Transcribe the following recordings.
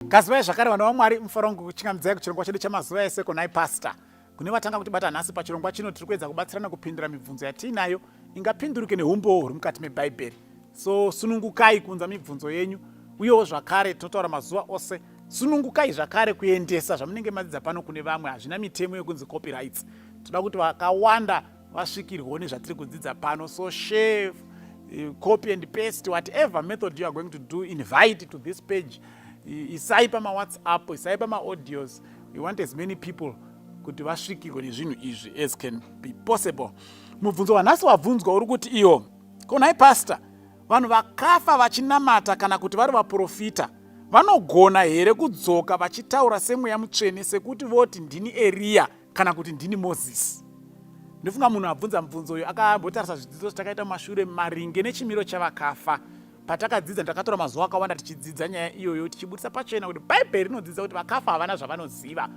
Gazivai zvakare vana vaMwari mufaro wangu kuchingamidzai kuchirongwa chedu chamazuva ese konai pastor. Kune vatanga kutibata nhasi pachirongwa chino tiri kuedza kubatsirana kupindura mibvunzo yatiinayo ingapinduruke neumbowo huri mukati mebhaibheri. So sunungukai kuunza mibvunzo yenyu uyewo zvakare tinotaura mazuva ose sunungukai zvakare kuendesa zvamunenge madzidza pano kune vamwe hazvina mitemo yekunzi copyrights toda kuti vakawanda vasvikirwawo nezvatiri kudzidza pano so share eh, copy and paste whatever method you are going to do invite to this page isai pamawhatsapp isai pamaaudios we want as many people kuti vasvikirwe nezvinhu izvi as can be possible mubvunzo wanhasi wabvunzwa uri kuti iyo konai pastor vanhu vakafa vachinamata kana kuti vari vaprofita vanogona here kudzoka vachitaura semweya mutsvene sekuti voti ndini eriya kana kuti ndini mozisi ndofunga munhu abvunza mubvunzo uyu akambotarisa zvidzidzo zvatakaita mumashure maringe nechimiro chavakafa patakadzidza takatora mazuva akawanda tichidzidza nyaya iyoyo tichibudisa pachena kuti bhaibheri rinodzidza kuti vakafa havana zvavanoziva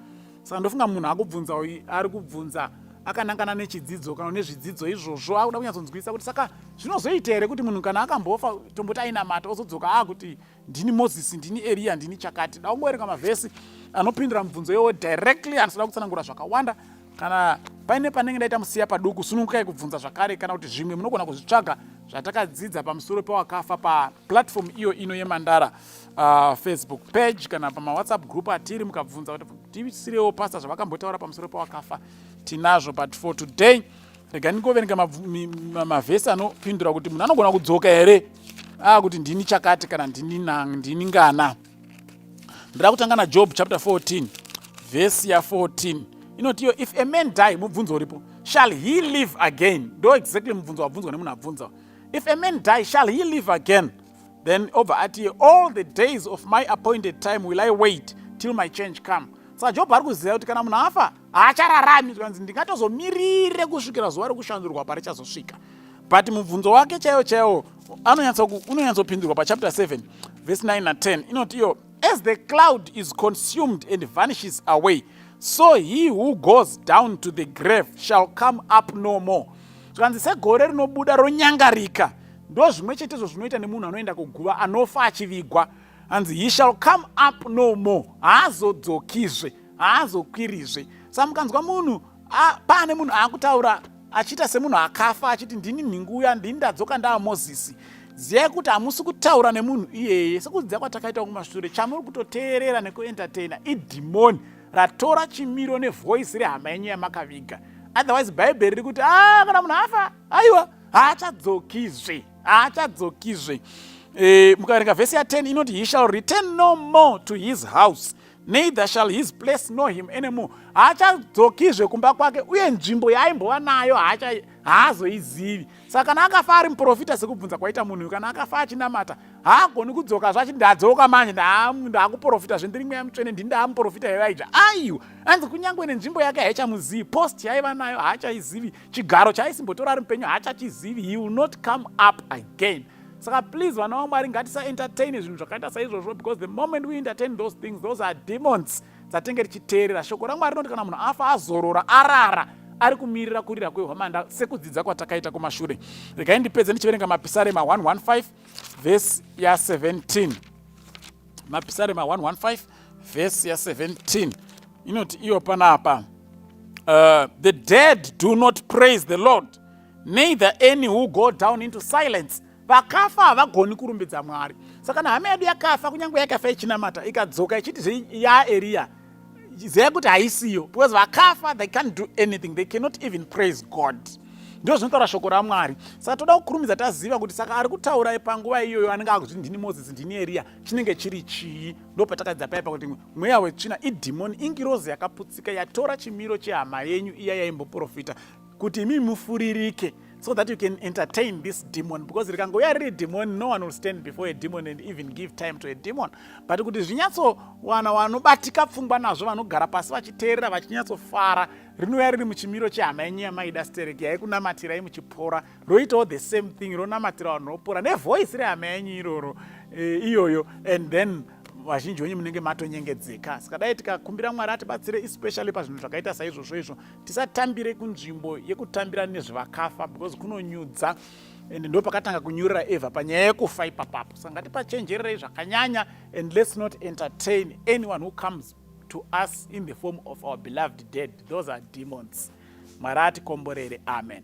saka ndofunga munhu akubvunza uyu ari kubvunza akanangana nechidzidzo kana nezvidzidzo izvozvo akuda kunyatsonzwisa kuti saka zvinozoita here kuti munhu kana akambofa tomboti ainamata ozodzoka akuti ndini moses ndini eriya ndini chakati da kungoverenga mavhesi anopindura mibvunzo yowo directly andisada kutsanangura zvakawanda kana paine panenge ndaita musiya paduku sunukai kubvunza zvakare kana kuti zvimwe munogona kuzvitsvaga zvatakadzidza pamusoro pewakafa paplatform iyo ino yemandara uh, facebook page kana pamawhatsapp group atiri mukabvunza kuti tisirewo pasta zvavakambotaura pamusoro pewakafa tinazvo but for today rega ndingoverenga mavhesi anopindura kuti munhu anogona kudzoka here aa ah, kuti ndini chakati kana ndini ndini ngana ndira kutanga najob chapter 14 vhesi ya 14 inoti iyo if a man die mubvunzo uripo shall he live again ndo exactly mubvunzo wabvunzwa nemunhu abvunza if a man die shall he live again then obva ati all the days of my appointed time will i wait till my change come saka job ari kuziva kuti kana munhu afa haachararami zvikanzi ndingatozomirire kusvikira zuva rekushandurwa parichazosvika but mubvunzo wake chaiwo chaiwo unonyatsopindurwa pachapter 7 vese 9 na10 inoti iyo as the cloud is consumed and vanishes away so he who goes down to the grave shall come up no more zvikanzi segore rinobuda ronyangarika ndo zvimwe chetezvo zvinoita nemunhu anoenda kuguva anofa achivigwa hanzi he shall come up no more haazodzokizve haazokwirizve sa mukanzwa munhu paane munhu aakutaura achiita semunhu akafa achiti ndini nhingu uya ndini ndadzoka ndaa mozisi ziyai kuti hamusi kutaura nemunhu iyeye sekuziva kwatakaita kumashure chamuri kutoteerera nekuentertaina idhimoni ratora chimiro nevhoisi rehama yenyu yamakaviga otherwise bhaibheri riri kuti a ah, kana munhu afa aiwa haachadzokizve haachadzokizve e, mukaverenga vhesi ya 10 inoti he shall return no more to his house neither shall his place know him anymore haachadzokizve kumba kwake uye nzvimbo yaaimbova nayo haazoizivi saka kana akafa ari muprofita sekubvunza kwaita munhu uyu kana akafa achinamata haagoni kudzoka zvachiti ndadzoka manje ndaakuprofita zve ndiri mweya mutsvene ndi ndaamuprofita yavaija aiwa anzi kunyange nenzvimbo yake haichamuzivi post yaiva nayo haachaizivi chigaro chaaisimbotora ari mupenyu haachachizivi he will not come up again saka please vana vamwari ngatisaentertaine zvinhu zvakaita saizvozvo because the moment we entertain those things those are demons dzatenge tichiteerera shoko ramwari rinoti kana munhu afa azorora arara ari kumirira kurira kwehwamanda sekudzidza kwatakaita kumashure regai ndipedze ndichiverenga mapisarema 115 vhesi ya17 mapisarema 115 vhesi ya17 inoti iyo panapa uh, the dead do not praise the lord May the any who go down into silence vakafa havagoni kurumbidza mwari saka kana hama yedu yakafa kunyange yakafa ichinamata ikadzoka ichiti zve yaeriya ziva kuti haisiyo because vakafa they can't do anything they cannot even praise god ndo zvinotaura shoko ramwari saka toda kukurumidza taziva kuti saka ari kutaura panguva iyoyo anenge akuti ndini moses ndini eriya chinenge chiri chii ndo patakadzidza paipa kuti mweya wetsvina idhimoni ingirozi yakaputsika yatora chimiro chehama yenyu iya yaimboprofita kuti imi mufuririke so that you can entertain this demon because rikangouya riri demon no one will stand before a demon and even give time to a demon but kuti zvinyatsowana wanobatika pfungwa nazvo vanogara pasi vachiteerera vachinyatsofara rinouya riri muchimiro chehama yenyu yamaida stereki yaikunamatirai muchipora roitawo the same thing ronamatira vanhu ropora nevoice rehama yenyu iroro e, iyoyo and then vazhinji wenyu munenge matonyengedzeka saka dai tikakumbira mwari atibatsire especially pazvinhu zvakaita saizvozvo izvo tisatambire kunzvimbo yekutambira nezvevakafa because kunonyudza and ndo pakatanga kunyurira eva panyaya yekufa ipapapo saka ngatipachenjererei zvakanyanya and let's not entertain anyone who comes to us in the form of our beloved dead those are demons mwari atikomborere amen